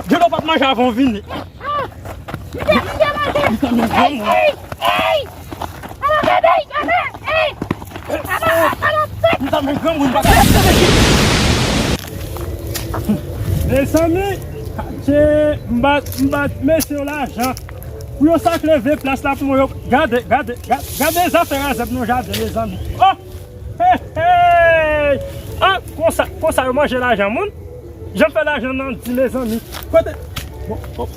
Djeno pap manje avan ou vini. Mezanmi m ba mesye yo lajan pou yo sak leve plas la pou mwen yo. Gade zafè razèt nan jaden mezanmi. Konsa yo manje lajan moun. Janm fè lajan nan di mezanmi. Kote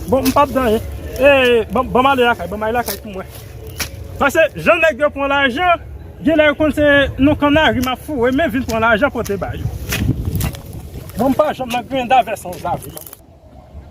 Bon m pap dan yen Eee banm ale lakay banm ale lakay pou mwen Pase jan nèg yo pran lajan Genlè yo konn se nan kannari map foure men vin pran lajan pote ba yo Bon m pa janm nan grenda vè sans lavi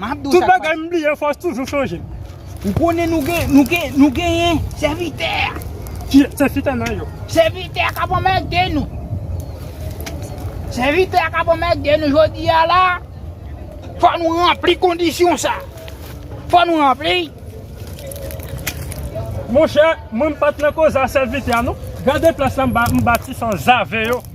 Map di w sa. Tout bagay m bliye fòs toujou chanje. Ou konnen nou gen nou gen nou genyen sèvitè. Ki sèvitè nan yo? Sèvitè kap anmède nou. Sèvitè kap anmède nou jodi a la. Fò nou ranpli kondisyon sa. Fò nou ranpli. Monchè mwen m pat nan koze a sèvitè a non. Gade plas la m bati san zave yo.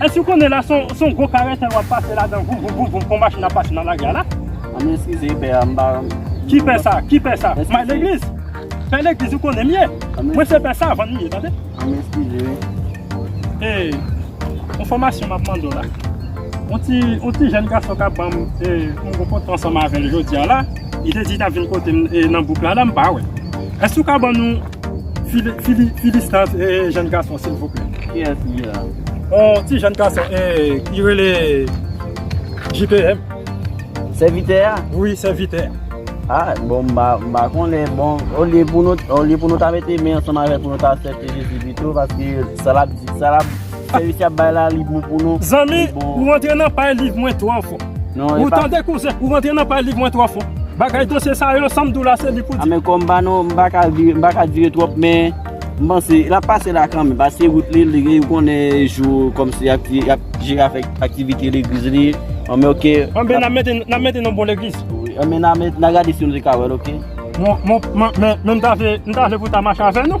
Èske ou konnen la se yon gwo karetèl wap pase ladan voum voum voum voum kon machin ap pase nan lari a la? An nou eskize pè a m pa Ki pè sa? Ki pè sa? May legliz? Pè legliz ou konnen m ye? Mwen se pè savan m ye tande. An nou eskize wi. E yon fòmasyon map mande w la. Yon ti yon ti jèn gason kap ban m e m rankontre ansanm avè l jodi a la. Li te di li tap vin kote m nan bouk la la m pa wè l. Èske ou ka ban nou Phibistas e jèn gason silvouplè. Kiyès li ye la? On ti jèn gason e li rele JPM. Sèvitè a? Wi, sèvitè a. A, bon m pa konnen. Bon, olye pou nou ta mete men ansanm avè l pou nou ta asèpte Jezi pito paske sa l ap di, sa l ap. Sèvis yap bay la li bon pou nou. Zanmi ou rantre nan pay live mwen twò fò ou tande kouzen ou rantre nan pay live mwen twò fò bagay dosye sa yo sam diw la se li pou di. Amèkò m pa nan m pa ka vire m pa ka dire twòp men m panse lap pase la kanmenm paske wout li li gen konnen jou kòmsi yap ki yap jere avèk aktivite legliz li anmè ok. Anmè nap mete nap mete nan bon legliz. Anmè nan gade si nou te ka wèl ok. Mon mon men men m ta vle m ta vle pou ta mache avè nou.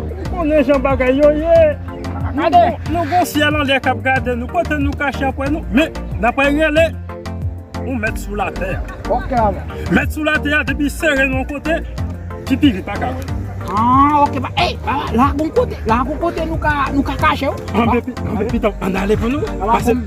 Ou konnen jan bagay yo ye. Nou gen syèl anlè k ap gade nou. Kote nou kache anpwen nou. Men, n apre rele yon mèt sou latè a. Ok ala. Mèt sou latè a depi sere nou yon kote, ti pi li pa ka wè nou. Ah ok. Ey, la gon kote nou ka kache ou. Anbe pitanm, ann ale pou nou.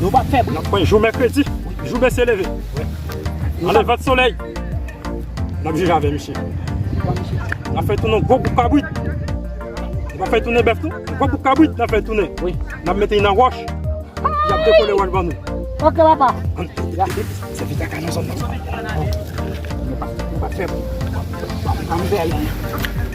Nou pa fè bri. Nap pran jou mèkredi. Jou mesye leve. Nan levant solèy. Nap jije avè misye. Nap fè tounen gwo bouk kabrit. Nou pa fè tounen bèf tou. Gwo bouk kabrit nap fè tounen. Nap mete nan wòch. Yap dekole wòch ban nou. Ok papa. Se pi kaka nan zòn nan. Nou pa fè bri. Ann veye.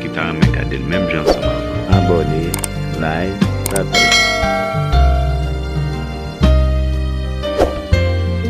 ki ta renmen gadel menm jan ansanm avèm. Abòne, like, pataj.